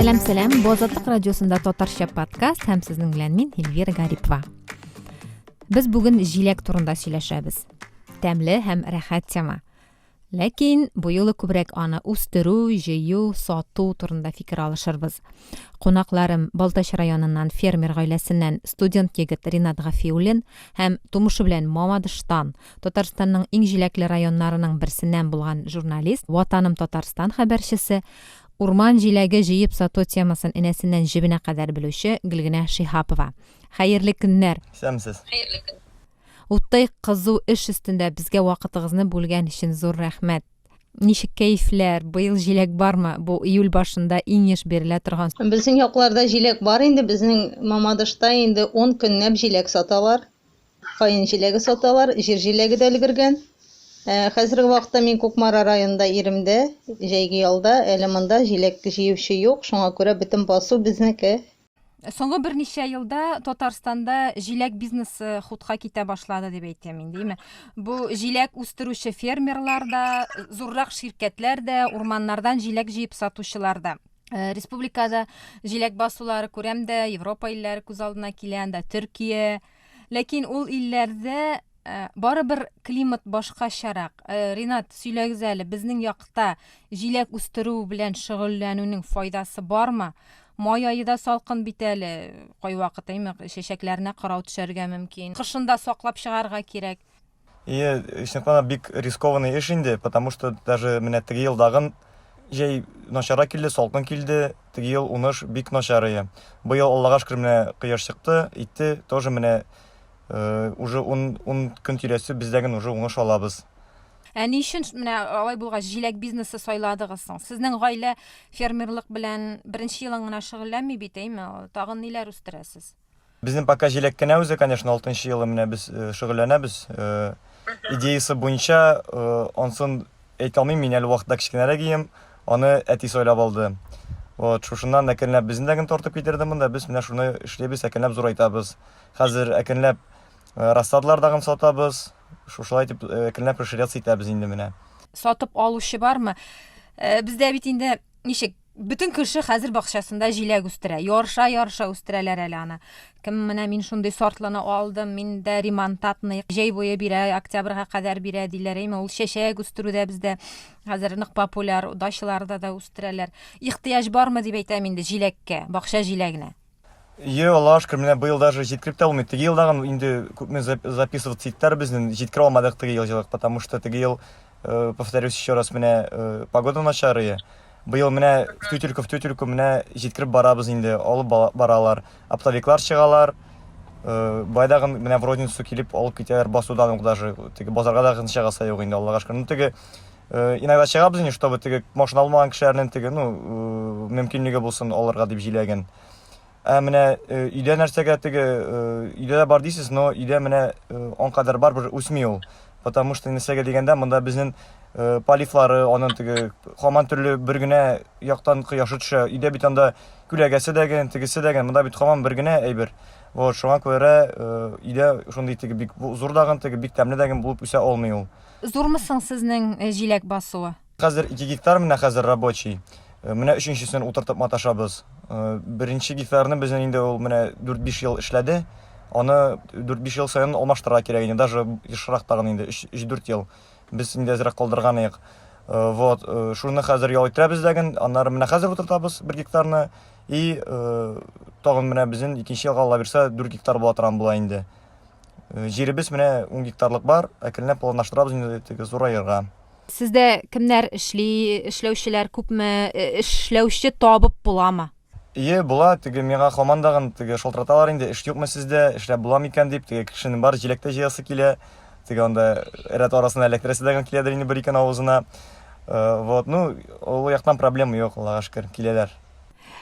сәләм сәләм бу азатлык радиосында татарча подкаст һәм сезнең белән мин эльвира гарипова без бүген җиләк турында сөйләшәбез тәмле һәм рәхәт тема Ләкин бу юлы күбрәк аны үстерү, җыю, сату турында фикер алышырбыз. Кунакларым, Балтач районыннан фермер гаиләсеннән студент егет Ринат Гафиуллин һәм тумышы белән Мамадыштан, Татарстанның иң җиләкле районнарының берсеннән булган журналист, Ватаным Татарстан хәбәрчесе, урман җиләге җыеп сату темасын энәсеннән җебенә кадәр белүче Гөлгенә Шиһапова. Хәерле көннәр! Исәнмесез! Хәерле көн! Уттай кызу эш өстендә безгә вакытыгызны бүлгән өчен зур рәхмәт. Ничек кәефләр? Быел җиләк бармы? Бу июль башында иң еш бирелә торган сорау. Безнең якларда җиләк бар инде, безнең Мамадышта инде ун көнләп җиләк саталар. Каен җиләге саталар, җир җиләге дә өлгергән. Ә хәзерге вакытта мин Кукмара районында иремдә, җәйге ялда, әле монда җиләк җыючы юк, шуңа күрә бөтен басу безнеке. Соңгы берничә елда Татарстанда җиләк бизнесы хутка китә башлады дип әйтә мин, димме? Бу җиләк үстерүче фермерлар да, зуррак ширкәтләр дә, урманнардан җиләк җыеп сатучылар да. Э, республикада җиләк басулары күрәм дә, Европа илләре күз алдына килә, анда Төркия. Ләкин ул илләрдә Ә, барыбер климат башкачарак. Ә, Ринат, сөйләгез әле, безнең якта җиләк үстерү белән шөгыльләнүнең файдасы бармы? Май ае да салкын бит әле, кайвакыт әйме, чәчәкләренә кырау төшәргә мөмкин. Кышында саклап чыгарга кирәк. Ие, чынлыкта бик рискованный эш инде, потому что даже менә теге елдагын җәй начара килде, салкын килде, теге ел уныш бик начар ие. Быел Аллага шөкер менә кояш чыкты, итте, тоже менә Уже ун көн тирәсе бездә генә уже уңыш алабыз. Ә ни өчен менә алай булгач җиләк бизнесы сайладыгыз соң? Сезнең гаилә фермерлык белән беренче елын гына шөгыльләнми бит, әйме? Тагын ниләр үстерәсез? Безнең пока җиләк кенә үзе, конечно, алтынчы елы менә без шөгыльләнәбез. Идеясы буенча, ансын әйтә алмыйм, мин әле вакытта кечкенәрәк ием, аны әти сайлап алды. Вот, шушыннан әкренләп безне дә генә тартып китерде монда, без менә шуны эшлибез, әкренләп зурайтабыз. Хәзер әкренләп э, рассадалар тагын сатабыз. Шушылай итеп э, әкренләп расширяться итәбез инде менә. Сатып алучы бармы? Э, Бездә бит инде ничек бөтен кеше хәзер бакчасында җиләк үстерә. Ярша ярша үстерәләр әле аны. Кем менә мин шундый сортлыны алдым, миндә ремонтатный җәй буе бирә, октябрьга кадәр бирә диләр. Әйме, ул чәчәк үстерүдә бездә хәзер нык популяр, дачаларда да үстерәләр. Ихтыяҗ бармы дип әйтәм инде җиләккә, бакча җиләгенә. Йо, Аллаһ шөкер, менә быел даже җиткереп тә булмый. Теге елдагын инде күпме записываться иттеләр безнен, җиткерә алмадык теге ел җылык, потому что теге ел, э, повторюсь еще раз, менә э, погода начарые. Быел менә в тютельку в тютельку менә җиткереп барабыз инде, алып баралар. Оптовиклар чыгалар. Э, Байдагын менә в розницу килеп алып китәләр басудан ук даже. Теге базарга да гынча гаса юк инде, Аллага шөкер. Ну теге Э, иногда чыгабыз инде чтобы теге машина алмаган кешеләрнең теге ну э, мөмкинлеге булсын алырга дип җиләген ә менә э, өйдә нәрсәгә теге өйдә дә бар дисез но өйдә менә он кадәр бар бер үсми ул потому что нәрсәгә дигәндә монда безнең полифлары аның теге хаман төрле бер генә яктан кояшы төшә өйдә бит анда күләгәсе дә генә тегесе дә генә монда бит хаман бер генә әйбер вот шуңа күрә өйдә шундый теге бик зур дагын теге бик тәмле дәген булып үсә алмый ул Зурмы соң сезнең җиләк басуы? Хәзер ике гектар менә хәзер рабочий. Менә өченчесен утыртып маташабыз. Беренче гектарны безнең инде ул менә дүрт-биш ел эшләде. Аны дүрт-биш ел саен алмаштырырга кирәк иде, даже ешрак тагын инде, өч-дүрт ел. Без инде әзрәк калдырганыек. Вот, шуны хәзер ял иттерәбез дәген, аннары менә хәзер утыртабыз бер гектарны. И тагын менә безнең икенче елга, Аллабирса, дүрт гектар була торган була инде. Э, җиребез менә ун гектарлык бар әкренләп планлаштырабыз инде теге зураерга сездә кемнәр эшли эшләүчеләр күпме э, эшләүче табып буламы Ие була теге миңа командагын теге шалтыраталар инде эш юкмы сездә эшләп була микән дип теге кешенең бар җиләктә җыясы килә теге анда рәт арасына эләктерәсе дә киләдер инде бер икән авызына э, вот ну ул яктан проблема юк аллага шөкер киләләр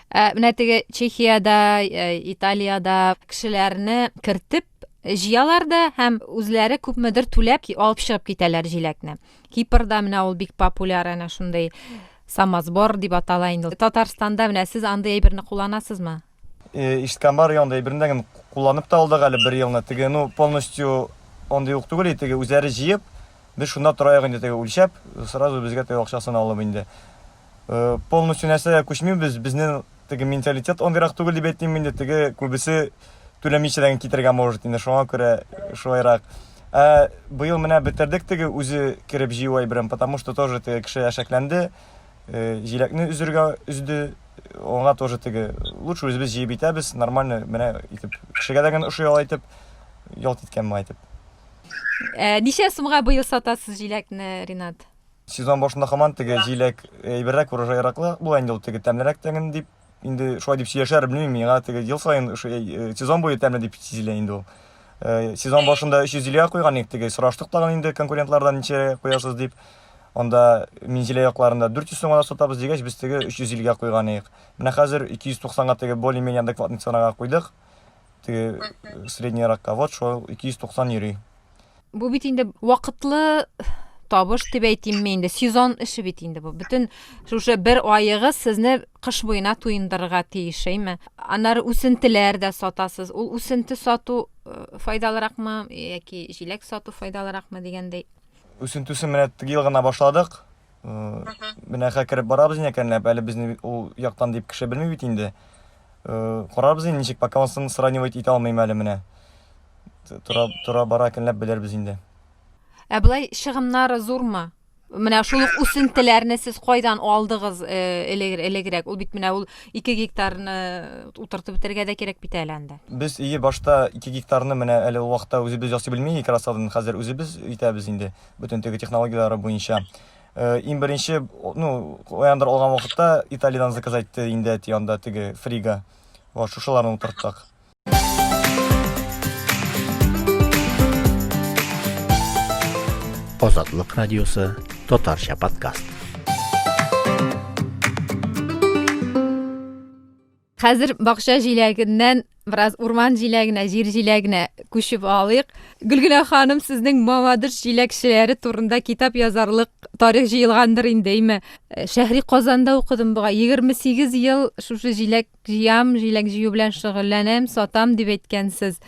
Ә, менә теге Чехиядә, ә, Италиядә кешеләрне кертеп җыялар да һәм үзләре күпмедер түләп алып чыгып китәләр җиләкне. Кипрда менә ул бик популяр әнә шундый самосбор дип атала инде. Татарстанда менә сез андый әйберне кулланасызмы? Э, ишеткән бар янда әйберендә генә кулланып та алдык әле бер елны. Теге, ну, полностью андый ук түгел, теге үзләре җыеп, без шунда тора инде теге үлчәп, сразу безгә теге акчасын алып инде. полностью нәрсәгә күчмибез, безнең теге менталитет андыйрак түгел дип әйтим инде, теге күбесе түләмичә китергә может инде, шуңа күрә шулайрак. Ә быел менә бетердек теге үзе кереп җыю әйберен, потому что тоже теге кеше әшәкләнде, э, җиләкне өзергә өзде, аңа тоже теге лучше үзебез җыеп итәбез, нормально менә итеп кешегә дә генә ошый ала итеп ялт иткән моңа итеп. Ә ничә сумга быел сатасыз җиләкне, Ринат? Сезон башында хаман теге җиләк әйберрәк, урожайраклы була инде ул теге тәмлерәк тәңен дип инде шулай дип сөйләшәр, белмим, миңа теге ел саен э, сезон буе тәмле дип сизелә инде ул. Э, сезон башында 300 җиләгә куйган идек, теге сораштык тагын инде конкурентлардан ничә куясыз дип. Анда мин җиләк якларында 400 сумга да сатабыз дигәч, без теге 300 җиләгә куйган идек. Менә хәзер 290 га теге более-менее адекватный ценага куйдык. теге средний ракка вот шул 290 йөри бу бит инде вакытлы табыш дип әйтимме инде сезон эше бит инде бу бөтен шушы бер аегы сезне кыш буена туендырырга тиеш әйме аннары үсентеләр дә сатасыз ул үсенте сату э, файдалыракмы яки җиләк сату файдалыракмы дигәндәй үсентесен менә тыгел гына башладык Менә хә кереп барабыз инде әкренләп, әле безне ул яктан дип кеше белми бит инде. Карарбыз инде ничек, пока монысын сравнивать итә алмыйм әле менә. Тора, тора бара әкренләп белербез инде. Ә былай чыгымнары зурмы? Менә шул ук үсентеләрне сез кайдан алдыгыз элегрәк? Ул бит менә ул 2 гектарны утыртып бетергә дә кирәк бит әле анда. Без ие башта 2 гектарны менә әле ул вакытта үзебез ясый белми икрасадын, хәзер үзебез итәбез инде. бөтен теге технологияләре буенча. Э, иң беренче, ну, каяндыр алган вакытта Италиядән заказ итте инде әти анда теге фрига. Вот шушыларны утырттык. Азатлык радиосы, татарча подкаст. Хәзер бакча җиләгеннән бераз урман җиләгенә, җир җиләгенә күчеп алыйк. Гөлгенә ханым, сезнең Мамадыш җиләкчеләре турында китап язарлык тарих җыелгандыр инде, име? Э, Шәһри Казанда укыдым буга. 28 ел шушы җиләк җыям, җиләк җыю белән шөгыльләнәм, сатам дип әйткәнсез.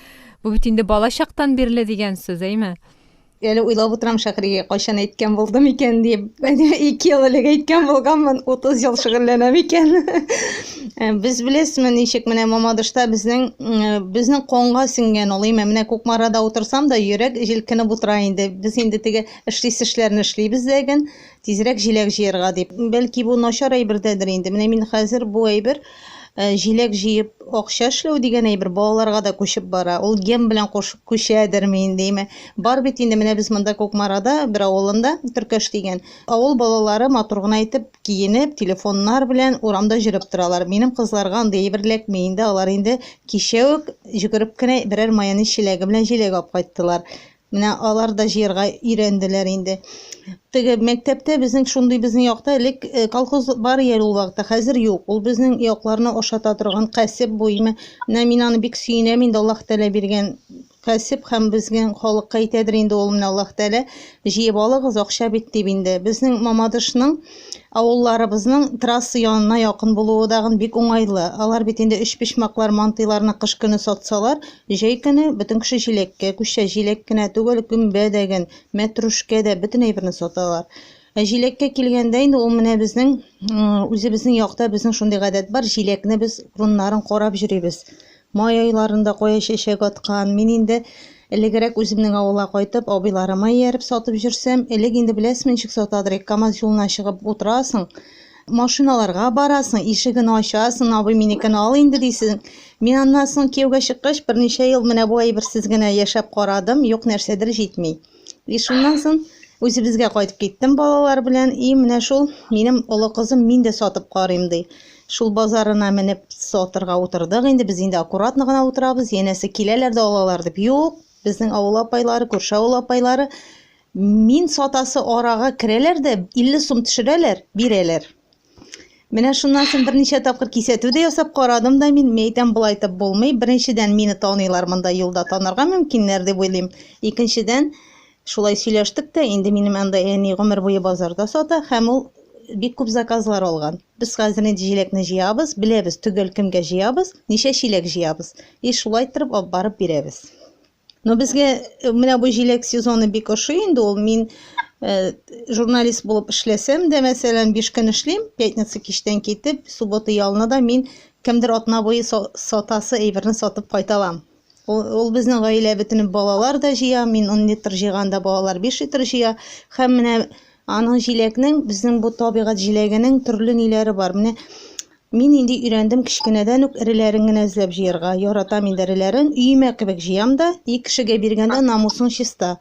Бу бит инде балачактан бирле дигән сүз, әйме? Әле уйлап утырам Шәһригә, кайчан әйткән булдым икән дип. Ике ел элек әйткән булганмын, 30 ел шөгыльләнәм икән. Э, без беләсезме, ничек менә Мамадышта безнең э, безнең конга сеңгән ул. Имә менә Кукмарада утырсам да, йөрәк җилкенеп утыра инде. Без инде теге эшлис эшләрне эшлибез дә ген, тизрәк җиләк җыярга дип. Бәлки бу начар әйбердәдер инде. Менә мин хәзер бу әйбер Ә, җиләк җыеп акча эшләү дигән әйбер балаларга да күчеп бара. Ул ген белән куш, күчәдерме инде, име? Бар бит инде менә без монда Кукмарада бер авылында, Төркәш дигән. Авыл балалары матур гына итеп киенеп, телефоннар белән урамда җөреп торалар. Минем кызларга андый әйбер эләкми инде, алар инде кичә үк җөгереп кенә берәр майонез чиләге белән җиләк алып кайттылар. Менә алар да җыярга өйрәнделәр инде. Теге мәктәптә безнең шундый безнең якта элек э, колхоз бар иде ул вакытта, хәзер юк. Ул безнең якларны ашата торган кәсеп бу. Имә, менә мин аны бик сөенәм инде, Аллаһ Тәгалә биргән кәсеп һәм безнең халыкка әйтәдер инде ул менә Аллаһ Тәгалә җыеп алыгыз, акча бит дип инде. Безнең Мамадышның Авылларыбызның трасса янына якын булуы тагын бик уңайлы. Алар бит инде өчпочмаклар, мантыйларны кыш көне сатсалар, җәй көне бөтен кеше җиләккә күчә. Җиләк кенә түгел, гөмбә дә, ген, мәтрүшкә дә, бөтен әйберне саталар. Ә җиләккә килгәндә инде ул менә безнең, үзебезнең якта безнең шундый гадәт бар, җиләкне без урыннарын карап йөрибез. Май айларында кая чәчәк аткан, мин инде элегрәк үземнең авылга кайтып, абыйларыма ияреп сатып йөрсәм, элек инде беләсеме ничек сатадырык, КАМАЗ юлына чыгып утырасың, машиналарга барасың, ишеген ачасың, абый, минекен ал инде дисең. Мин аннан соң кияүгә чыккач, берничә ел менә бу әйберсез генә яшәп карадым, юк нәрсәдер җитми. И шуннан соң үзебезгә кайтып киттем балалар белән. И менә шул минем олы кызым мин дә сатып карыйм ди. Шул базарына менеп сатырга утырдык инде. Без инде аккуратно гына утырабыз. Янәсе киләләр дә алалар дип. Юк, безнең авыл апайлары, күрше авыл апайлары мин сатасы арага керәләр дә 50 сум төшерәләр, бирәләр. Менә шуннан соң берничә тапкыр кисәтү дә ясап карадым да мин, мәйтәм болай итеп булмый. Беренчедән, мине таныйлар монда юлда танырга мөмкиннәр дип уйлыйм. Икенчедән, шулай сөйләштек тә, инде минем анда әни гомер буе базарда сата һәм ул бик күп заказлар алган. Без хәзер инде җиләкне җыябыз, беләбез төгәл кемгә җыябыз, ничә чиләк җыябыз. И шулай иттереп алып барып бирәбез. Но безгә э, менә бу җиләк сезоны бик ошый инде ул. Мин э, журналист булып эшләсәм дә, мәсәлән, биш көн эшлим, пятница кичтән китеп, суббота ялына да мин кемдер атна буе сатасы әйберне сатып кайталам. Ул, ул безнең гаилә бөтенеп балалар да җыя, мин 10 литр җыйганда балалар 5 литр җыя. Һәм менә аның җиләкнең, безнең бу табигать җиләгенең төрле ниләре бар. Менә Мин инде өйрәндем кечкенәдән үк эреләрен генә эзләп җыярга. Яратам инде эреләрен, өемә кебек җыям да. И кешегә биргәндә намусың чиста.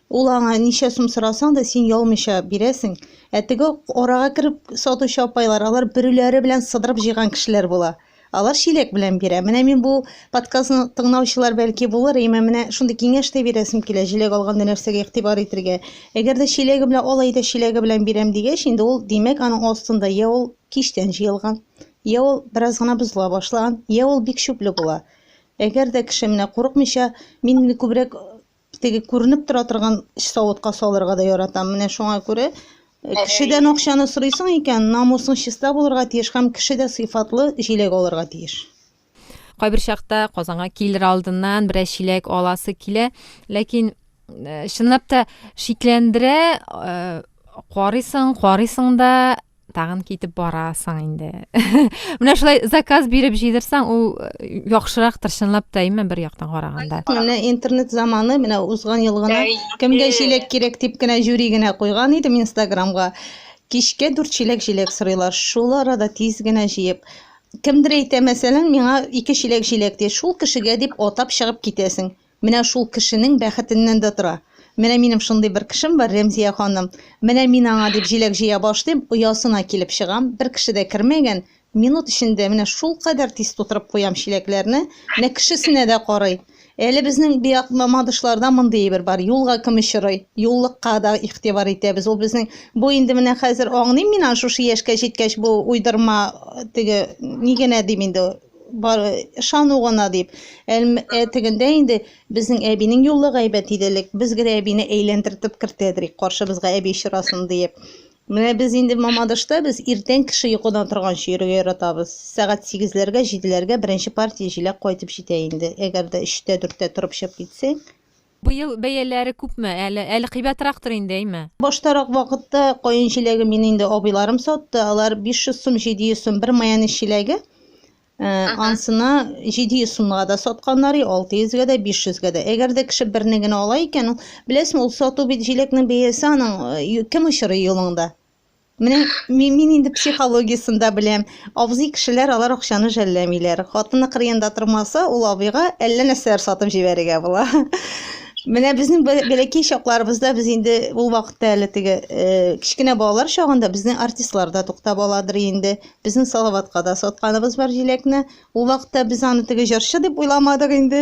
Ул аңа ничә сум сорасаң да, син ялмыйча бирәсең. Ә теге арага кереп сатучы апайлар, алар бөреләре белән сыдырып җыйган кешеләр була. Алар чиләк белән бирә. Менә мин бу подкастны тыңнаучылар бәлки булыр, имә менә шундый киңәш тә бирәсем килә, җиләк алганда нәрсәгә игътибар итергә. Әгәр дә чиләге белән алай да чиләге белән бирәм дигәч, инде ул, димәк, аның астында йә ул кичтән җыелган, йә ул бераз гына бозыла башлаган, йә ул бик чүпле була. Әгәр дә кеше менә курыкмыйча, мин инде күбрәк теге күренеп тора торган савытка салырга да яратам. Менә шуңа күрә э, кешедән акчаны сорыйсың икән, намусың чиста булырга тиеш һәм кеше дә сыйфатлы җиләк алырга тиеш. Кайбер чакта Казанга килер алдыннан берәр чиләк аласы килә, ләкин э, чынлап та шикләндерә, э, карыйсың, карыйсың да тагын китеп барасың инде. Менә шулай заказ биреп җыйдырсаң, ул э, яхшырак тырчынлап та имә бер яктан караганда. Менә интернет заманы, менә узган ел гына кемгә чиләк кирәк дип кенә жюри генә куйган идем Инстаграмга. Кичкә дүрт чиләк җиләк сорыйлар. Шул арада тиз генә җыеп, Кемдер әйтә, мәсәлән, миңа ике чиләк җиләк ди. Шул кешегә дип атап чыгып китәсең. Менә шул кешенең бәхетеннән дә тора. Менә минем шундый бер кешем бар, Рәмзия ханым. Менә мин аңа дип җиләк җыя башлыйм, оясына килеп чыгам, бер кеше дә кермәгән, минут эчендә менә шулкадәр тиз тутырып куям чиләкләрне, менә кешесенә дә карый. Әле безнең биак Мамадышларда мондый әйбер бар, юлга кем очрый, юллыкка да игътибар итәбез. Ул безнең бу инде менә хәзер аңлыйм мин аны шушы яшькә җиткәч бу уйдырма теге ни генә дим инде бар ышану гына дип. Ә тегендә инде безнең әбинең юллыгы әйбәт иде элек. Без генә әбине әйләндертеп кертәдерик, каршыбызга әби очрасын диеп. Менә без инде Мамадышта без иртән кеше йокыдан торганчы йөрергә яратабыз. Сәгать сигезләргә, җиделәргә беренче партия җиләк кайтып җитә инде. Әгәр дә өчтә, дүрттә торып чыгып китсәң. Быел бәяләре күпме әле? Әле кыйбатрактыр инде, әйме? Баштарак вакытта каен җиләге мине инде абыйларым сатты, алар 500 сум, 700 сум бер майонез чиләге. Ә, ансына 700 сумга да сатканнар, 600 гә дә, 500 гә дә. Әгәр дә кеше берне генә ала икән, беләсең, ул сату бит җиләкнең бәясе аның кем очырый юлыңда? Менә мин, мин инде психологиясен дә беләм. Абзый кешеләр алар акчаны жәлләмиләр. Хатыны кырыенда тормаса, ул абыйга әллә нәрсәләр сатып җибәрергә була. Менә безнең бәләкәй чакларыбызда без инде ул вакытта әле теге кечкенә балалар чагында безнең артистлар да туктап аладыр инде. Безнең Салаватка да сатканыбыз бар җиләкне. Ул вакытта без аны теге җырчы дип уйламадык инде.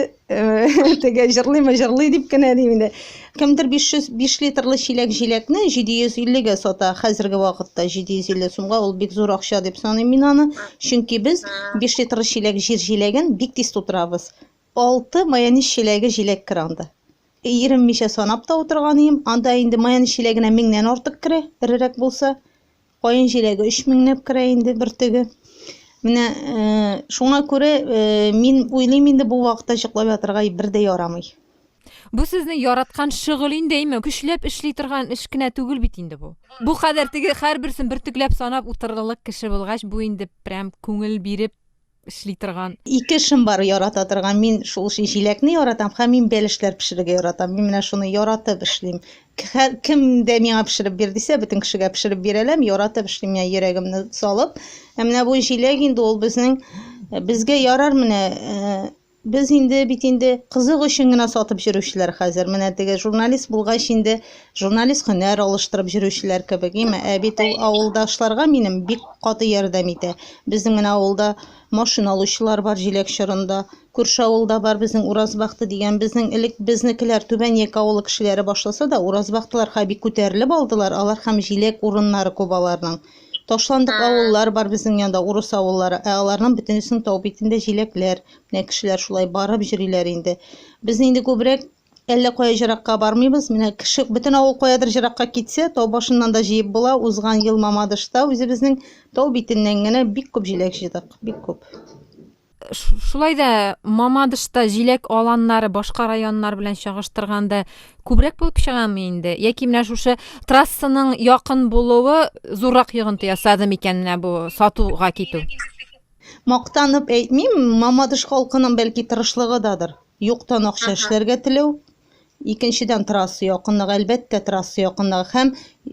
Теге җырлыймы, җырлый дип кенә дим инде. Кемдер 505 литрлы чиләк җиләкне 750-гә сата. Хәзерге вакытта 750 сумга ул бик зур акча дип саныйм мин аны. Чөнки без 5 литрлы чиләк җир җиләген бик тиз тутырабыз. Алты майонез чиләге җиләк керә анда. Иреммичә санап та утырган идем. Анда инде майонез чиләгенә меңнән артык керә, эрерәк булса. Каен җиләге өч меңләп керә инде бер теге. Менә э, шуңа күрә э, мин уйлыйм инде бу вакытта җыклап ятырга бер дә ярамый. Бу сезнең яраткан шөгыль инде, әйме? Көчләп эшли торган эш кенә түгел бит инде бу. Бу кадәр теге һәрберсен бөртекләп санап утырырлык кеше булгач, бу инде прям күңел биреп эшли торган. Ике эшем бар ярата торган. Мин шул җиләкне яратам һәм мин бәлешләр пешерергә яратам. Мин менә шуны яратып эшлим. Кем дә миңа пешереп бир дисә, бөтен кешегә пешереп бирәләм, яратып эшлим, менә йөрәгемне салып. Ә менә бу җиләк инде ул безнең безгә ярар менә Без инде бит инде кызык өчен генә сатып йөрүчеләр хәзер. Менә теге журналист булгач инде журналист һөнәр алыштырып йөрүчеләр кебек. Име, ә бит ул авылдашларга минем бик каты ярдәм итә. Безнең менә авылда машина алучылар бар җиләк чорында. Күрше авылда бар безнең Уразбахты дигән. Безнең элек безнекеләр Түбән Яки авылы кешеләре башласа да, Уразбахтылар хәби күтәрелеп алдылар алар һәм җиләк урыннары күп аларның. Ташландык авыллар бар безнең янда, урыс авыллары, ә аларның бөтенесенең тау битендә җиләкләр. Менә кешеләр шулай барып җөриләр инде. Без инде күбрәк әллә кая җыракка бармыйбыз. Менә кеше бөтен авыл каядыр җыракка китсә, тау башыннан да җыеп була. Узган ел Мамадышта үзебезнең тау битеннән генә бик күп җиләк җыйдык, бик күп. Шулай да Мамадышта җиләк аланнары башка районнар белән чагыштырганда күбрәк булып чыгамы инде? Яки менә шушы трассаның якын булуы зуррак йогынты ясады микән менә бу сатуга китү? Мактанып әйтмим, Мамадыш халкының бәлки тырышлыгыдадыр. Юктан акча эшләргә теләү, Икенчедән, трасса якынлыгы, әлбәттә, трасса якынлыгы. Һәм,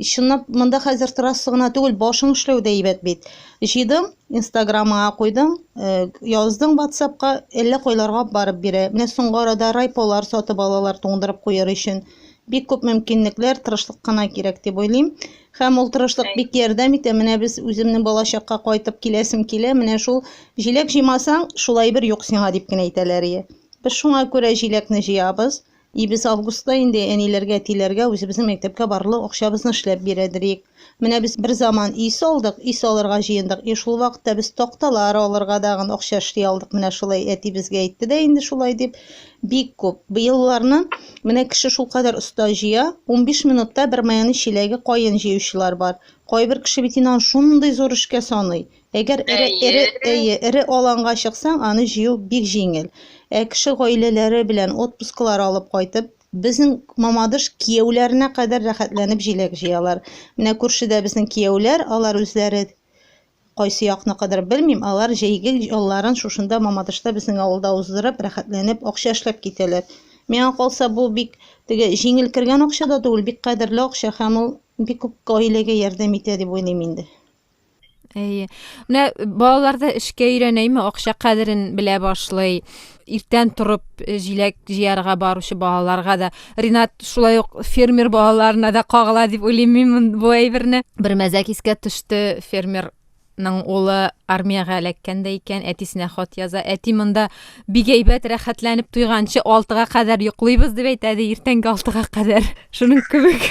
чынлап, монда хәзер трасса гына түгел, башың эшләү дә әйбәт бит. Җыйдың, Инстаграмыңа куйдың, э, яздың ватсапка, әллә кайларга барып бирә. Менә соңгы арада райполар сатып алалар туңдырып куяр өчен. Бик күп мөмкинлекләр, тырышлык кына кирәк дип уйлыйм. Һәм ул тырышлык бик ярдәм итә. Менә без үземнең балачакка кайтып киләсем килә. Менә шул җиләк җыймасаң, шулай бер юк сиңа, дип кенә әйтәләр. Без шуңа күрә җиләкне җыябыз. И без августта инде әниләргә, тиләргә үзебезнең мәктәпкә барлык акчабызны эшләп бирәдерик. Менә без бер заман өй салдык, өй салырга җыендык. И шул вакытта без такталар алырга дагын акча эшли алдык. Менә шулай әти безгә әйтте дә инде шулай дип. Бик күп. Быелларны менә кеше шулкадәр оста җыя. Унбиш минутта бер майонез чиләге каен җыючылар бар. Кайбер кеше бит инан шундый зур эшкә саный. Әгәр эре, эре, әйе, эре аланга чыксаң, аны җыю бик җиңел. Ә кеше гаиләләре белән отпусклар алып кайтып, безнең Мамадыш кияүләренә кадәр рәхәтләнеп җиләк җыялар. Менә күршедә безнең кияүләр, алар үзләре кайсы якныкыдыр, белмим, алар җәйге ялларын шушында Мамадышта безнең авылда уздырып, рәхәтләнеп, акча эшләп китәләр. Миңа калса, бу бик теге җиңел кергән акча да түгел, бик кадерле акча һәм ул бик күп гаиләгә ярдәм итә дип уйлыйм инде. Әйе. Менә балаларда эшкә өйрәнәйме, акча кадерен белә башлый. Иртән торып э, җиләк җыярга баручы балаларга да. Ринат шулай ук фермер балаларына да кагыла дип уйлыйм мин бу әйберне. Бер мәзәк искә төште, фермерның улы армиягә эләккәндә икән, әтисенә хат яза. Әти монда Бик әйбәт, рәхәтләнеп туйганчы алтыга кадәр йоклыйбыз дип әйтә, ди, иртәнге алтыга кадәр. Шуның кебек.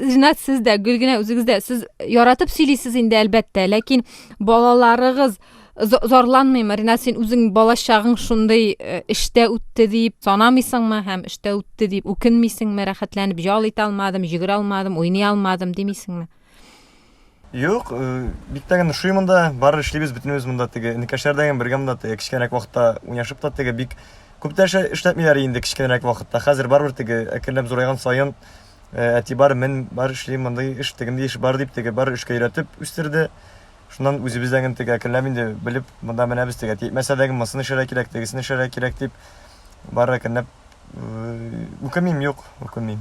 Җинат, сез дә, гел генә үзегез дә, сез яратып сөйлисез инде, әлбәттә, ләкин балаларыгыз зарланмыймы? Ринат, син үзең балачагың шундый э, эштә үтте дип санамыйсыңмы һәм эштә үтте дип үкенмисеңме? Рәхәтләнеп ял итә алмадым, йөгерә алмадым, уйный алмадым димисеңме? Юк, э, бик тә генә шуй монда, бар эшлибез бөтенебез монда теге. Инекәшләрдә генә бергә монда теге кечкенәрәк вакытта уйнашып та теге бик күп тә эшләтмиләр инде кечкенәрәк вакытта. Хәзер барбер теге әкренләп зурайган саен э, әти бар, мен бар эшли мондый эш, тегендә эш бар дип теге бар эшкә өйрәтеп үстерде. Шуннан үзебез дә генә теге әкренләп инде белеп монда менә без теге типмәсә дә мосын эшләргә кирәк, тегесен эшләргә кирәк дип бар әкренләп үкенмим, юк, үкенмим.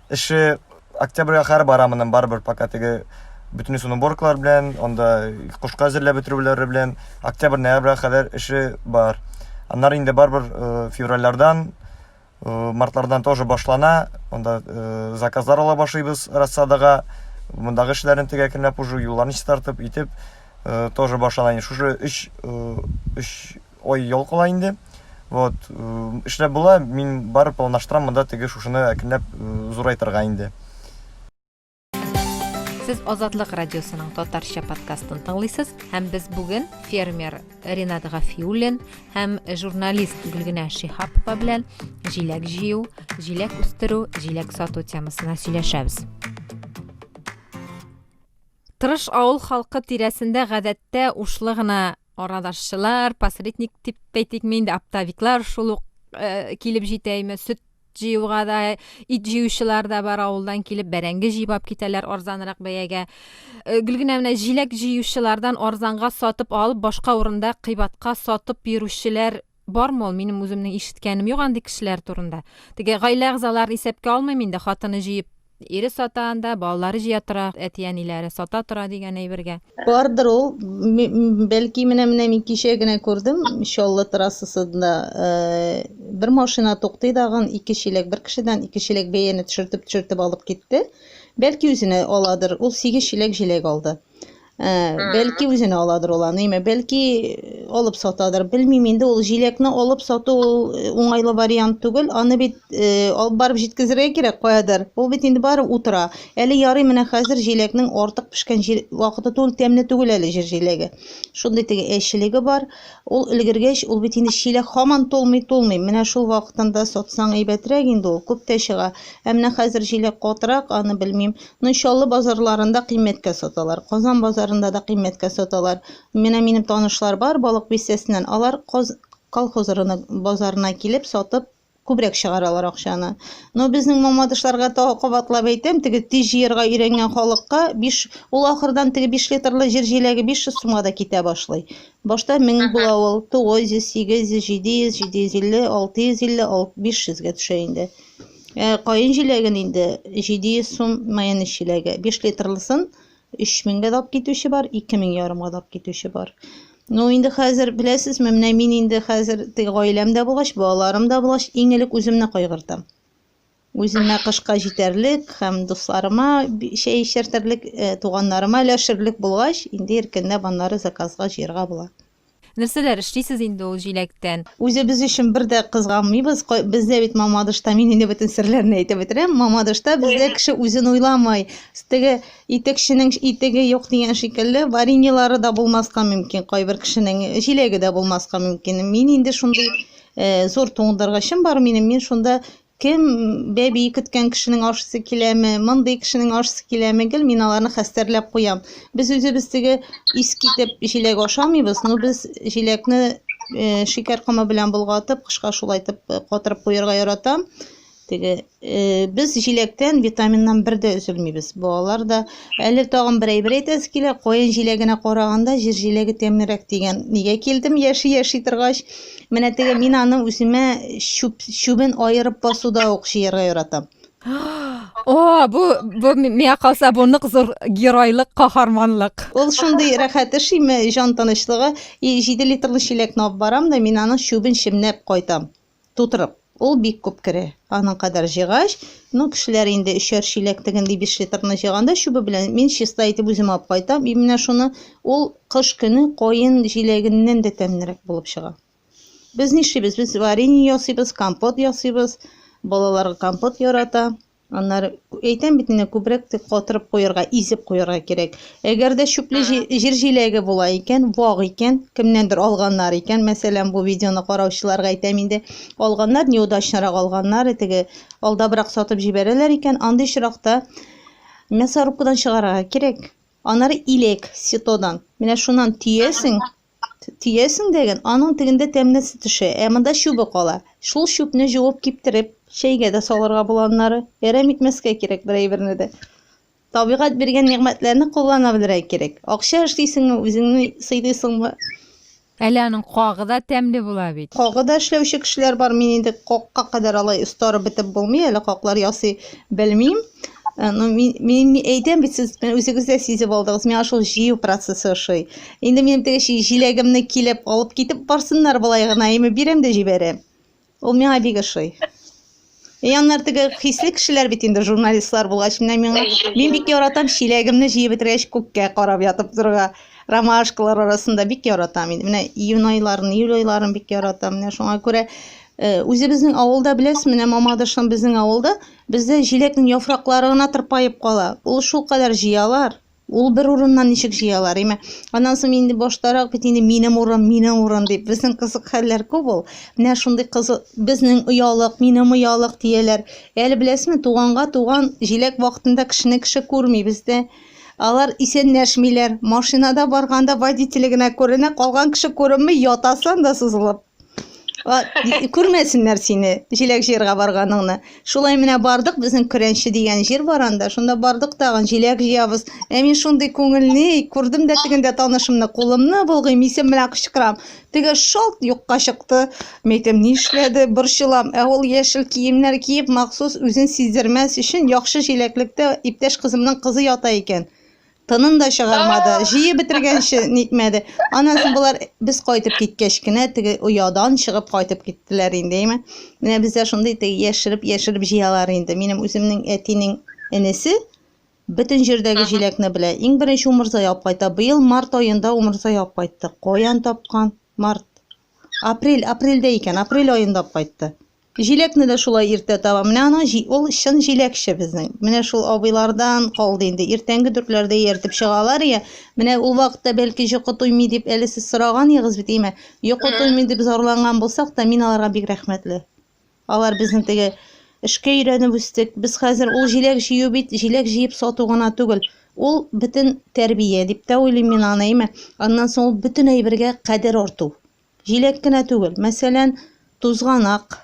Эше октябрьгә кадәр бара моннан барыбер, пока теге бөтен суны борклар белән, анда кушка әзерләп бетерүләре белән октябрь-ноябрьгә кадәр эше бар. Аннары инде барыбер э, февральләрдән, э, мартлардан тоже башлана. Анда э, заказлар ала башлыйбыз рассадага. Мондагы эшләрен теге әкренләп уже юлларны чистартып, итеп тоже башлана. Шушы 3 3 Ой, йолкыла инде. Вот, эшләп була, мин бар планаштырам монда теге шушыны әкренләп зурайтырга инде. Сез Азатлык радиосының татарча подкастын тыңлыйсыз һәм без бүген фермер Ринат Гафиуллин һәм журналист Гөлгенә Шихапова белән җиләк җыю, җиләк үстерү, җиләк сату темасына сөйләшәбез. Тырыш авыл халкы тирәсендә гадәттә ушлы гына Арадашчылар, посредник дип әйтикме инде, оптовиклар шул ук э, килеп җитә име, сөт җыюга да, ит җыючылар да бар авылдан килеп, бәрәңге җыйбап китәләр арзанрак бәягә. Э, гел генә менә җиләк җыючылардан арзанга сатып алып, башка урында кыйбатка сатып йөрүчеләр Бармы ул, минем үземнең ишеткәнем юк андый кешеләр турында. Теге гаилә әгъзаларын исәпкә алмыйм инде, хатыны җыеп ире сата анда, балалары җыя тора, әти-әниләре сата тора дигән әйбергә. Бардыр ул, бәлки менә-менә мин кичә генә күрдем, Чаллы трассасында бер машина туктый дагын, ике чиләк бер кешедән, ике чиләк бәяне төшертеп-төшертеп алып китте. Бәлки үзенә аладыр, ул сигез чиләк җиләк алды. Ә, бәлки үзенә аладыр ул аны, имә, бәлки э, алып сатадыр. Белмим инде ул җиләкне алып сату ул э, уңайлы вариант түгел. Аны бит э, алып барып җиткезергә кирәк каядыр. Ул бит инде бары утыра. Әле ярый менә хәзер җиләкнең артык пешкән җил... вакыты түгел, тәмле түгел әле җир җиләге. Шундый теге әчелеге бар. Ул өлгергәч, ул бит инде чиләк һаман тулмый, тулмый. Менә шул вакытында сатсаң әйбәтрәк инде ул, күп тә чыга. Ә менә хәзер җиләк катырак, аны белмим. Ну Чаллы базарларында кыйммәткә саталар, Казан базарында да кыйммәткә саталар. Менә минем танышлар бар Балык Бистәсеннән, алар Каз колхоз рынок базарына килеп сатып күбрәк чыгаралар акчаны. Но безнең мамадышларга тагы кабатлап әйтәм, теге тиз җыерга өйрәнгән халыкка биш, ул ахырдан теге биш литрлы җир җиләге 500 сумга да китә башлый. Башта мең була ул, 900, 800, 700, 750, 650, ал, 500 гә төшә инде. Ә каен җиләген инде 700 сум майонез җиләге. 5 литрлысын 3000 гә дап китүче бар, 2000 ярымга дап китүче бар. Ну, инде хәзер беләсезме, менә мин инде хәзер теге гаиләм дә булгач, балаларым да булгач, иң элек үземне кайгыртам. Үземә кышка җитәрлек һәм дусларыма чәй эчертерлек, э, туганнарыма өләшерлек булгач, инде иркенләп аннары заказга җыярга була. Нәрсәләр эшлисез инде ул җиләктән? Үзебез өчен бер дә кызганмыйбыз. Бездә бит Мамадышта, мин инде бөтен серләрне әйтеп бетерәм, Мамадышта бездә кеше үзен уйламый. Теге итекченең итеге юк дигән шикелле, вареньелары да булмаска мөмкин, кайбер кешенең җиләге дә булмаска мөмкин. Мин инде шундый э, зур туңдыргычым бар минем, мин шунда Кем, бәби көткән кешенең ашысы киләме, мондый кешенең ашысы киләме, гел мин аларны хәстәрләп куям. Без үзебез теге ис китеп җиләк ашамыйбыз, ну без җиләкне э, шикәр комы белән болгатып, кышка шулайтып э, катырып куярга яратам. Теге э, без җиләктән, витаминнан бер дә өзелмибез. Балалар да әле тагын бер әйбер әйтәсе килә, каен җиләгенә караганда җир җиләге тәмлерәк дигән. Нигә килдем яши-яши торгач? Менә теге мин аны үземә чүп, чүбен аерып басуда ук җыярга яратам. О, бу бу миңа калса бу нык зур геройлык, каһарманлык. Ул шундый рәхәт эш име, җан тынычлыгы. И, 7 литрлы чиләкне алып барам да, мин аның чүбен чемнәп кайтам, тутырып. Ул бик күп керә. Аның кадәр җыйгач, ну, кешеләр инде өчәр чиләк тегенли биш литрны җыйганда чүбе белән, мин чиста итеп үзем алып кайтам, и менә шуны, ул кыш көне каен җиләгеннән дә тәмлерәк булып чыга. Без нишлибез, без варенье ясыйбыз, компот ясыйбыз, балалар компот ярата. Аннары әйтәм бит инде, күбрәк катырып куярга, изеп куярга кирәк. Әгәр дә чүпле җир җиләге була икән, вак икән, кемнәндер алганнар икән, мәсәлән, бу видеоны караучыларга әйтәм инде, алганнар, неудачнырак алганнар, теге алдабрак сатып җибәрәләр икән, андый очракта мясорубкадан чыгарырга кирәк. Аннары иләк, ситодан. Менә шуннан төясең, Төясең дәген, аның тегендә тәмнәсе төшә, ә монда чүбе кала. Шул чүпне җуып киптереп, чәйгә дә салырга була аннары. Әрәм итмәскә кирәк бер әйберне дә. Табигать биргән нигъмәтләрне куллана белергә кирәк. Акча эшлисеңме, үзеңне сыйлыйсыңмы? Әле аның кагы да тәмле була бит. Кагы да эшләүче кешеләр бар, мин инде какка кадәр алай остарып бетеп булмый әле, каклар ясый белмим. Э, ну, мин, мин, мин әйтәм бит сез э, үзегез дә сизеп алдыгыз миңа шул җыю процессы ошый инде минем теге җиләгемне килеп алып китеп барсыннар болай гына эми бирәм дә җибәрәм ул миңа бик ошый и э, аннар теге хисле кешеләр бит инде журналистлар булгач менә миңа мин бик яратам чиләгемне җыеп бетергәч күккә карап ятып торырга ромашкалар арасында бик яратам инде менә июнь айларын июль айларын бик яратам менә шуңа күрә Э, үзебезнең авылда беләсез менә мамадышым безнең авылда Бездә җиләкнең яфраклары гына тырпаеп кала. Ул шулкадәр җыялар. Ул бер урыннан ничек җыялар, име? Аннан соң инде баштарак бит инде минем урын, минем урын дип. Безнең кызык хәлләр күп ул. Менә шундый кызы, безнең оялык, минем оялык дияләр. Әле беләсезме, туганга туган җиләк вакытында кешене кеше күрми бездә. Алар исәнләшмиләр. Машинада барганда водителе генә күренә, калган кеше күренми, ятасың да сузылып. Күрмәсеннәр сине, җиләк җыярга барганыңны. Шулай менә бардык, безнең Көрәнче дигән җир бар анда. Шунда бардык тагын, җиләк җыябыз. Ә мин шундый күңелле, күрдем дә тегендә танышымны, кулымны болгыйм, исем белән кычкырам. Теге шалт юкка чыкты. Мәйтем, нишләде, борчылам. Ә ул яшел киемнәр киеп, махсус үзен сиздермәс өчен, яхшы җиләклектә иптәш кызымның кызы ята икән. тынын да чыгармады. Җыеп бетергәнче нитмәде. Аннан соң болар без кайтып киткәч кенә теге оядан чыгып кайтып киттеләр инде, әйме? Менә бездә шундый теге яшереп, яшереп җыялар инде. Минем үземнең әтинең энесе бөтен җирдәге җиләкне белә. Иң беренче умырза ялп кайта. Быел март аенда умырза ялп кайтты. Каян тапкан? Март. Апрель, апрельдә икән, апрель аенда кайтты. Җиләкне дә шулай иртә табам. Менә аның җи, ул чын җиләкче безнең. Менә шул абыйлардан калды инде. Иртәнге дүртләрдә ияртеп чыгалар йә. Менә ул вакытта бәлки җокы туймый дип әле сез сораганыегыз бит, әйме? Йокы туймый дип зарланган булсак та, мин аларга бик рәхмәтле. Алар безнең теге эшкә өйрәнеп үстек. Без хәзер ул җиләк җыю бит, җиләк җыеп сату гына түгел. Ул, бөтен тәрбия дип тә уйлыйм мин аны, әйме? Аннан соң ул бөтен әйбергә кадер арту. Җиләк кенә түгел, мәсәлән, тузганак,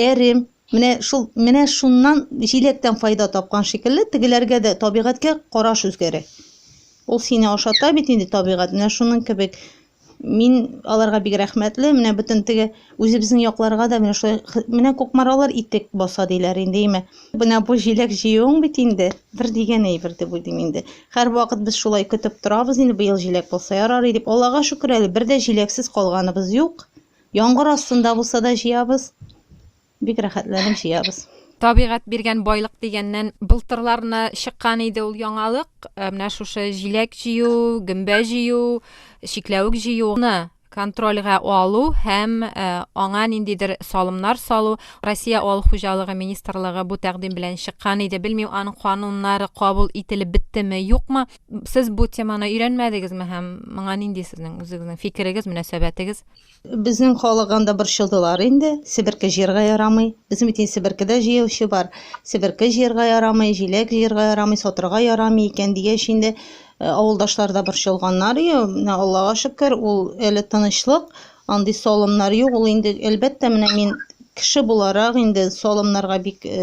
әрем, менә шул менә шуннан җиләктән файда тапкан шикелле, тегеләргә дә табигатькә караш үзгәрә. Ул сине ашата бит инде табигать, менә шуның кебек. Мин аларга бик рәхмәтле, менә бөтен теге үзебезнең якларга да менә шулай менә кукмаралар итек баса диләр инде, име. Менә бу җиләк җыюың бит инде. Бер дигән әйбер дип уйлыйм инде. Һәр вакыт без шулай көтеп торабыз инде, быел җиләк булса ярар дип. Аллага шөкер әле, бер дә җиләксез калганыбыз юк. Яңгыр астында булса да җыябыз. Бик рәхәтләнеп җыябыз. Табигать биргән байлык дигәннән, былтырларны чыккан иде ул яңалык. Ә менә шушы җиләк җыю, гөмбә җыю, чикләвек җыюны контрольгә алу һәм аңа ниндидер салымнар салу. Россия авыл хуҗалыгы министрлыгы бу тәкъдим белән чыккан иде. Белмим, аның кануннары кабул ителеп беттеме, юкмы? Сез бу теманы өйрәнмәдегезме һәм моңа нинди сезнең үзегезнең фикерегез, мөнәсәбәтегез? Безнең халык анда борчылдылар инде. Себерке җыярга ярамый. Безнең бит инде себеркедә җыючы бар. Себерке җыярга ярамый, җиләк җыярга ярамый, сатырга ярамый икән дигәч инде, Э, авылдашлар да борчылганнар и менә аллага шөкер ул әле тынычлык андый салымнар юк ул инде әлбәттә менә мин кеше буларак инде салымнарга бик э,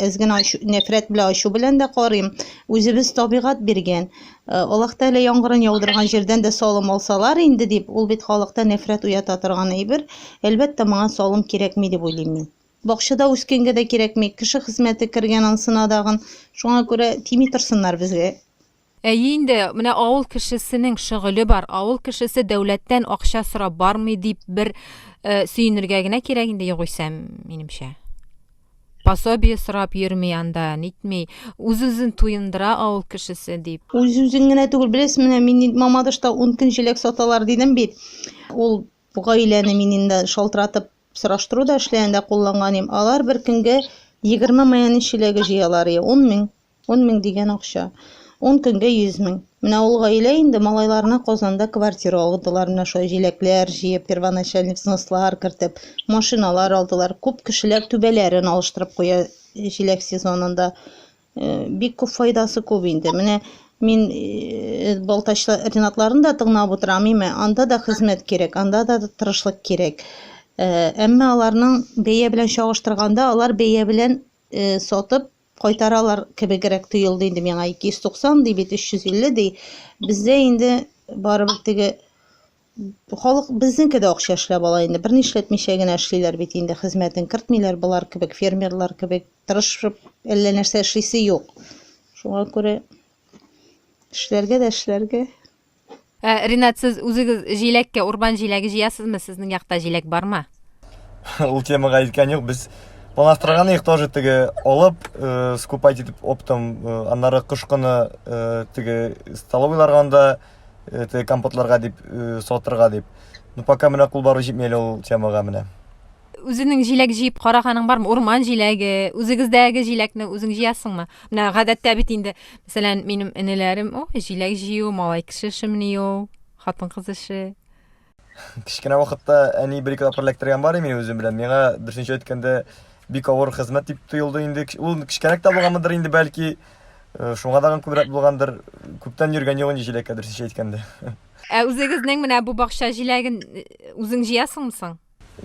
әз генә нәфрәт белән ачу белән дә карыйм үзебез табигать биргән э, аллаһ тәгалә яңгырын яудырган җирдән дә салым алсалар инде дип ул бит халыкта нәфрәт уята торган әйбер әлбәттә моңа салым кирәкми дип уйлыйм мин бакчада үскәнгә дә кирәкми кеше хезмәте кергән ансына дагын шуңа күрә тими торсыннар безгә Әйе инде, менә авыл кешесенең шөгыле бар, авыл кешесе дәүләттән акча сорап бармый дип бер сөенергә генә кирәк инде югыйсә, минемчә. Пособие сорап йөрми анда, нитми, үз-үзен туендыра авыл кешесе, дип. Үз-үзен генә түгел, беләсез, менә мин Мамадышта ун көн җиләк саталар дидем бит. Ул гаиләне мин инде шалтыратып сораштыру да эшләгәндә кулланган идем. Алар бер көнгә егерме майонез чиләге җыялар, ие, ун мең Ун мең дигән акча. Ун көнгә йөз мең. Менә ул гаилә инде малайларына Казанда квартира алдылар, менә шулай җиләкләр җыеп, первоначальный взнослар кертеп, машиналар алдылар. Күп кешеләр түбәләрен алыштырып куя җиләк сезонында. Бик күп файдасы күп инде. Менә мин Балтач Ренатларын да тыңлап утырам, име, анда да хезмәт кирәк, анда да тырышлык кирәк. Әмма аларның бәя белән чагыштырганда, алар бәя белән сатып, кайтаралар кебегрәк тоелды инде миңа. 290 ди бит, 350 ди. Бездә инде барыбер теге халык безнеке дә акча эшләп ала инде. Бер нишләтмичә генә эшлиләр бит инде, хезмәтен кертмиләр болар кебек, фермерлар кебек тырышып әллә нәрсә эшлисе юк. Шуңа күрә эшләргә дә эшләргә. Ә, Ринат, сез үзегез җиләккә урбан җиләге җыясызмы? Сезнең якта җиләк бармы? Ул темага илткән юк. Без планлаштырган идек тоже теге алып, э, скупать итеп оптом, э, аннары кыш кыны э, теге столовыйларга анда э, теге компотларга дип э, сатырга дип. Ну пока менә кул бару җитми әле ул темага менә. Үзенең җиләк җыеп караганың бармы? Урман җиләге, үзегездәге җиләкне үзең җыясыңмы? Менә гадәттә бит инде, мәсәлән, минем энеләрем, о, җиләк җыю, малай кеше эшемени ул, хатын-кыз эше. Кечкенә вакытта әни бер-ике тапкыр эләктергән бар мин үзем белән. Миңа дөресенчә әйткәндә бик авыр хезмәт дип тоелды инде. Ул кечкенәк тә булганмыдыр инде бәлки. Э, шуңа тагын күбрәк булгандыр. Күптән йөргән юк инде җиләккә дөресенчә әйткәндә. Ә үзегезнең менә бу бакча җиләген э, үзең җыясыңмы соң?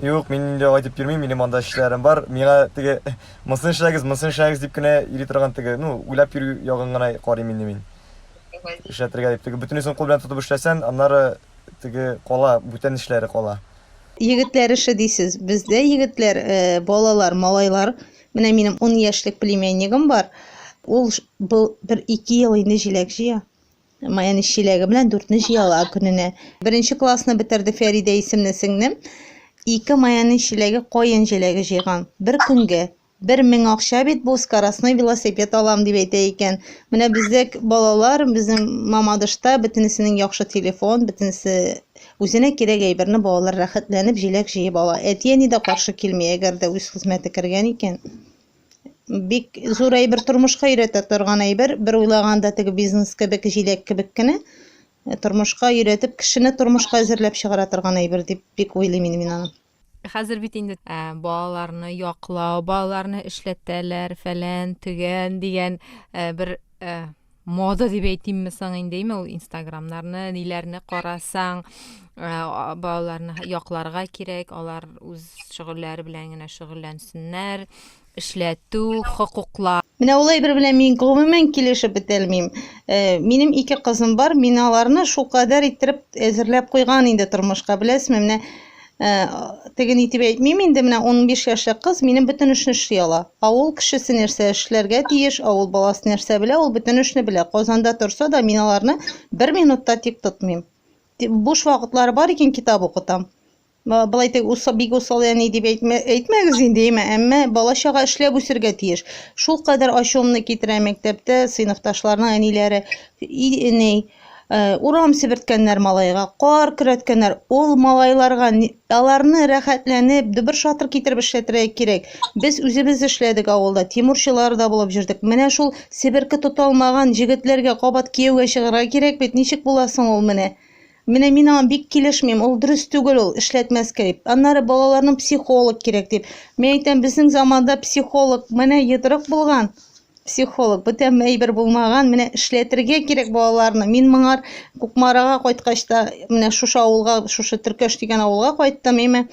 Юк, мин инде алай дип йөрмим, минем анда эшләрем бар. Миңа теге монысын эшләгез, монысын эшләгез дип кенә йөри торган теге, ну, уйлап йөрү ягын гына карыйм инде мин. Эшләтергә дип теге бөтенесен кул белән тотып эшләсән, аннары теге кала, бүтән эшләре кала. Егетләр эше дисез. Бездә егетләр, э, балалар, малайлар, менә минем ун яшьлек племяннигым бар. Ул бу бер ике ел инде җиләк җыя. Маяны чиләге белән дүртне җыя ала көненә. Беренче классны бетерде Фәридә исемле сеңлем. Ике маяны чиләге каен җиләге җыйган. Бер көнгә. Бер мең акча бит бу, скоростной велосипед алам дип әйтә икән. Менә бездә балалар, безнең мамадышта бөтенесенең яхшы телефон, бөтенесе үзенә кирәк әйберне балалар рәхәтләнеп җиләк җыеп ала. Әти-әни дә каршы килми, әгәр дә үз хезмәте кергән икән. бик зур әйбер тормышка өйрәтә торган әйбер бер уйлаганда теге бизнес кебек җиләк кебек кенә э, тормышка өйрәтеп кешене тормышка әзерләп чыгара торган әйбер дип бик уйлыйм инде мин аны хәзер бит инде ә, балаларны яклау балаларны эшләтәләр фәлән төгән дигән ә, бер ә, мода дип әйтимме соң инде име ул инстаграмнарны ниләрне карасаң э, балаларны якларга кирәк алар үз шөгыльләре белән генә шөгыльләнсеннәр эшләтү хокуклар Менә ул әйбер белән мин гомумән килешеп бетәлмим. Э, минем ике кызым бар, мин аларны шулкадәр иттереп әзерләп куйган инде тормышка, беләсезме? Менә Теген итеп әйтмим инде, менә 15 яшьлек кыз минем бөтен эшне эшли ала. Авыл кешесе нәрсә эшләргә тиеш, авыл баласы нәрсә белә, ул бөтен эшне белә. Казанда торса да, мин аларны бер минутта тик тотмыйм. Буш вакытлары бар икән, китап укытам. Былай тек усы бик усал әни дип әйтмә, әйтмәгез инде, әмма, әмма балачага эшләп үсергә тиеш. Шул кадәр ачуымны китерә мәктәптә сыйныфташларның әниләре. И, әни, Э, урам себерткәннәр малайга, кар көрәткәннәр. Ул малайларга аларны рәхәтләнеп, дөбер-шатыр китереп эшләтергә кирәк. Без үзебез эшләдек авылда, тимурчылар да булып җөрдек. Менә шул себерке тота алмаган җегетләргә кабат кияүгә чыгарга кирәк бит. Ничек була соң ул менә? Менә мин аңа бик килешмим. Ул дөрес түгел ул, эшләтмәскә дип. Аннары балаларның психолог кирәк дип. Мин әйтәм, безнең заманда психолог менә йодрык булган. Психолог, бүтән әйбер булмаган, менә эшләтергә кирәк балаларны. Мин моңар Кукмарага кайткач та, менә шушы авылга, шушы Төркәш дигән авылга кайттым, име.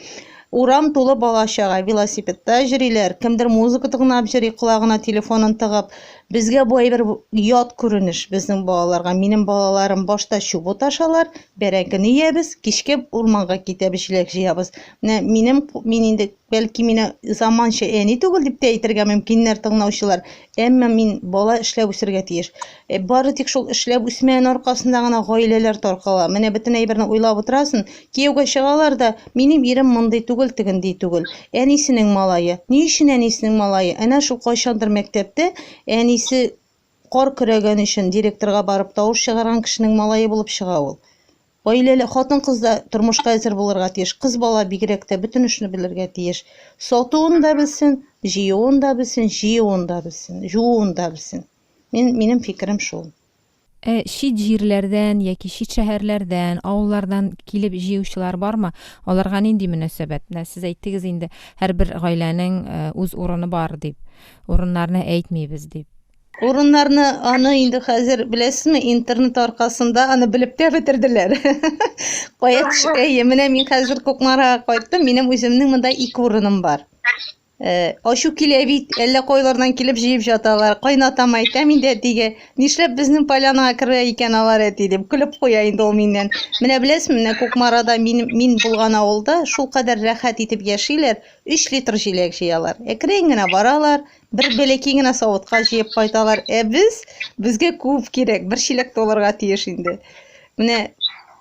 Урам тулы бала-чага, велосипедта җөриләр, кемдер музыка тыңлап җөри, колагына телефонын тыгып. Безгә бу әйбер ят күренеш, безнең балаларга. Минем балаларым башта чубут ашалар, бәрәңгене иябез, кичкә урманга китәбез, җиләк җыябыз. Менә минем, мин инде Бәлки мине заманча әни түгел дип тә әйтергә мөмкиннәр тыңлаучылар, әмма мин бала эшләп үсергә тиеш. Ә бары тик шул эшләп үсмәен аркасында гына гаиләләр таркала. Менә бөтен әйберне уйлап утырасын, кияүгә чыгалар да, минем ирем мондый түгел, тегендий түгел. Әнисенең малае. Ни өчен әнисенең малае? Әнә шул кайчандыр мәктәптә әнисе Кар көрәгән өчен директорга барып тавыш чыгарган кешенең малае булып чыга ул. Гаиләле хатын-кыз да тормышка әзер булырга тиеш, кыз бала бигрәк тә бөтен эшне белергә тиеш. Сатуын да белсен, җыюын да белсен, җыюын да белсен, жууын да белсен. Мин, минем фикерем шул. Ә чит җирләрдән яки чит шәһәрләрдән, авыллардан килеп җыючылар бармы? Аларга нинди мөнәсәбәт? Менә сез әйттегез инде, һәрбер гаиләнең үз урыны бар дип. Урыннарны әйтмибез дип. Урыннарны аны инде хәзер беләсезме, интернет аркасында аны белеп тә бетерделәр. Кая төшкәе, менә мин хәзер Кукмарага кайттым, минем үземнең монда ике урыным бар. Э, ачу килә бит, әллә кайлардан килеп җыеп жаталар. Кайнатам әйтәм инде әтигә, нишләп безнең полянаға керә икән алар әти дип көлеп куя инде ул миннән. Менә беләсезме, менә Кукмарада мин, мин булган авылда шул кадәр рәхәт итеп яшиләр, Өч литр җиләк җыялар. Әкрен генә баралар, бер бәләки генә савытка җыеп кайталар. Ә без, безгә күп кирәк, бер чиләк тулырга тиеш инде. Менә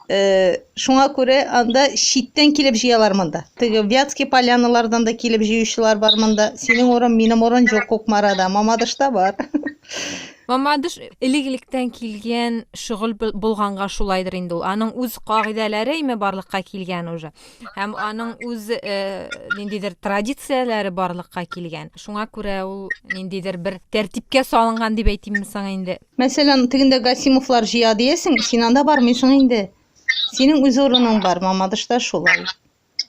э, шуңа күрә анда читтән килеп җыялар монда. Теге Вятский поляналардан да килеп җыючылар бар монда. Синең урын, минем урын җук Кукмарада, Мамадышта бар. Мамадыш элек-электән килгән шөгыль булганга шулайдыр инде ул. Аның үз кагыйдәләре име барлыкка килгән уже. Һәм аның үз э, ниндидер традицияләре барлыкка килгән. Шуңа күрә ул ниндидер бер тәртипкә салынган дип әйтимме соң инде. Мәсәлән, тегендә Гасимовлар җыя диясең, син анда бармыйсың инде. Синең үз урының бар, Мамадышта шулай.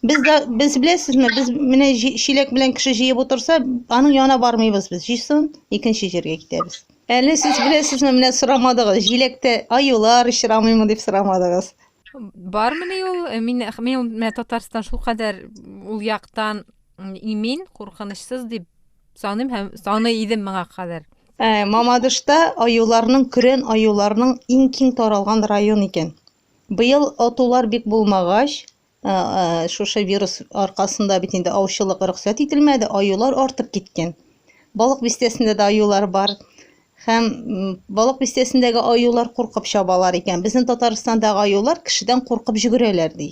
Без дә без беләсезме, без менә чиләк белән кеше җыеп утырса, аның янына бармыйбыз без. Җыйсын, икенче җиргә китәбез. Әле сез беләсезме, менә сорамадыгыз, җиләктә аюлар очрамыймы дип сорамадыгыз. бармыни ул э, мин мин менә татарстан шулкадәр ул яктан имин куркынычсыз дип саныйм һәм саны идем моңа кадәр э, мамадышта аюларның көрән аюларның иң киң таралган район икән быел атулар бик булмагач э, шушы вирус аркасында бит инде аучылык рөхсәт ителмәде аюлар артып киткән балык бистәсендә дә аюлар бар Һәм Балык бистәсендәге аюлар куркып чабалар икән. Безнең Татарстандагы аюлар кешедән куркып җөгерәләр, ди.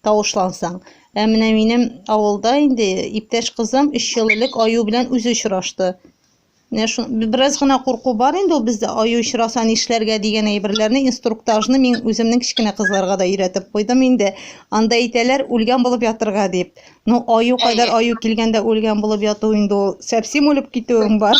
Тавышлансаң. Ә менә минем авылда инде иптәш кызым 3 ел элек аю белән үзе очрашты. Менә шу бераз гына курку бар инде ул бездә аю очраса нишләргә дигән әйберләрне инструктажны мин үземнең кечкенә кызларга да өйрәтеп куйдым инде. Анда әйтәләр, үлгән булып ятырга дип. Ну, аю кадәр аю килгәндә үлгән булып яту инде ул сәпсим үлеп китүең бар.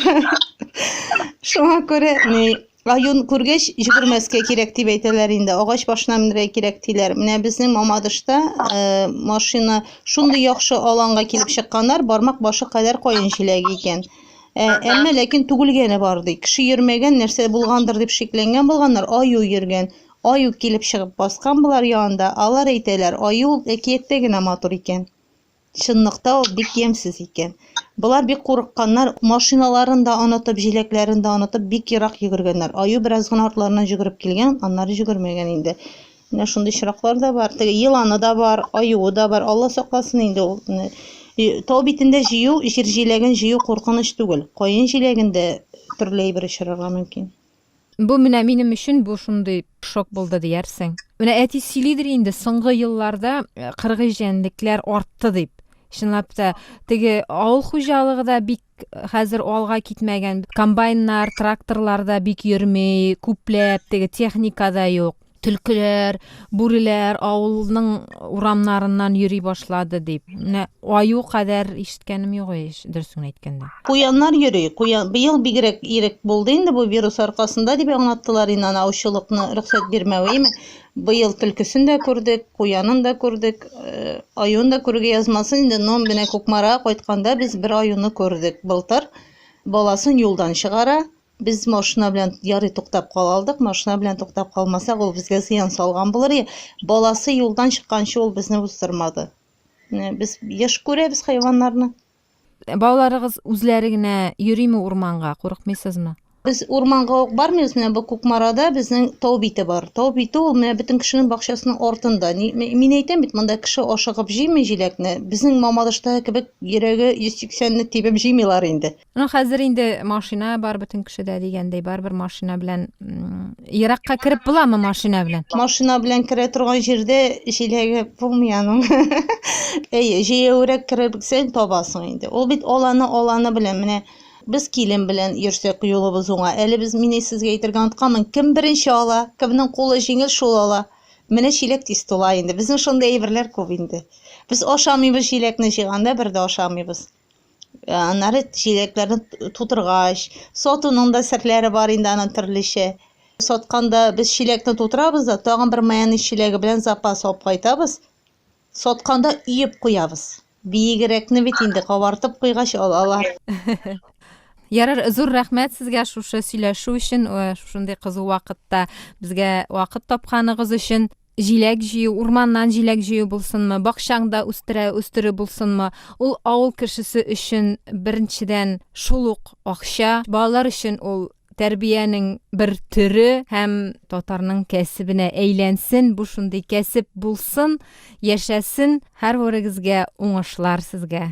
Шуңа күрә ни аюн күргәч җөгермәскә кирәк дип әйтәләр инде. Агач башына менергә кирәк диләр. Менә безнең Мамадышта э, машина шундый яхшы аланга килеп чыкканнар, бармак башы кадәр каен җиләге икән. Э, әмма ләкин түгелгәне бар ди. Кеше йөрмәгән нәрсә булгандыр дип шикләнгән булганнар, аю йөргән. Аю килеп чыгып баскан болар янында, алар әйтәләр, аю ул әкияттә генә матур икән. Чынлыкта ул бик ямьсез икән. Болар бик курыкканнар, машиналарын да онытып, җиләкләрен дә онытып, бик ерак йөгергәннәр. Аю бераз гына артларыннан җөгереп килгән, аннары җөгермәгән инде. Менә шундый очраклар да бар. Теге еланы да бар, аюы да бар. Алла сакласын инде ул. Тау битендә җыю, җир җиләген җыю куркыныч түгел. Каен җиләген дә төрле әйбер очрарга мөмкин. Бу менә минем өчен бу шундый шок булды диярсең. Менә әти сөйлидер инде соңгы елларда кыргый җәнлекләр артты дип. Чынлап та, теге авыл хуҗалыгы да бик хәзер алга китмәгән. Комбайннар, тракторлар да бик йөрми, күпләп теге техника да юк. Төлкеләр, бүреләр авылның урамнарыннан йөри башлады дип. Менә аю кадәр ишеткәнем юк ич, дөресен әйткәндә. Куяннар йөри. Куян быел бигрәк ирек булды инде бу вирус аркасында, дип аңлаттылар инде аны аучылыкны рөхсәт бирмәве. Имеш, быел төлкесен дә күрдек, куянын да күрдек, аюын да күрергә язмасын инде, но менә Кукмарага кайтканда без бер аюны күрдек. Былтыр баласын юлдан чыгара, Без машина белән ярый туктап кала алдык. Машина белән туктап калмасак, ул безгә зыян салган булыр иде. Баласы юлдан чыкканчы ул безне уздырмады. Менә без еш күрәбез хайваннарны. Балаларыгыз үзләре генә йөрими урманга, курыкмыйсызмы? Без урманга ук бармыйбыз, менә бу Кукмарада безнең тау бите бар. Тау бите ул менә бөтен кешенең бакчасының артында. Ни- ме- Мин әйтәм бит, монда кеше ашыгып җыймый җиләкне. Безнең Мамадыштагы кебек йөрәге 180 лек тибеп җыймыйлар инде. Ну, хәзер инде машина бар бөтен кешедә дигәндәй, барыбер машина белән еракка кереп буламы машина белән? Машина белән керә торган җирдә җиләге булмый аның. Әйе, җәяүрәк керерсең табасың инде. Ул бит аланы аланы белән менә без килен белән йөрсәк юлыбыз уңа. Әле без мине сезгә әйтергә онытканмын. Кем беренче ала, кемнең кулы җиңел шул ала. Менә чиләк тиз тула инде. Безнең шундый әйберләр күп инде. Без ашамыйбыз җиләкне җыйганда бер дә ашамыйбыз. Э, аннары чиләкләрне тутыргач, сатуның да серләре бар инде аның төрлечә. Сатканда без чиләкне тутырабыз да, тагын бер майонез чиләге белән запас алып кайтабыз. Сатканда өеп куябыз. Биегрәкне бит инде кабартып куйгач алалар. Ярар, зур рәхмәт сезгә шушы сөйләшү өчен, э, шушындый кызу вакытта безгә вакыт тапканыгыз өчен. Җиләк җыю, урманнан җиләк җыю булсынмы, бакчаңда үстерә үстерү булсынмы, ул авыл кешесе өчен, беренчедән, шул ук акча, балалар өчен ул тәрбиянең бер төре һәм татарның кәсебенә әйләнсен, бу шундый кәсеп булсын, яшәсен, һәрвырегезгә уңышлар сезгә,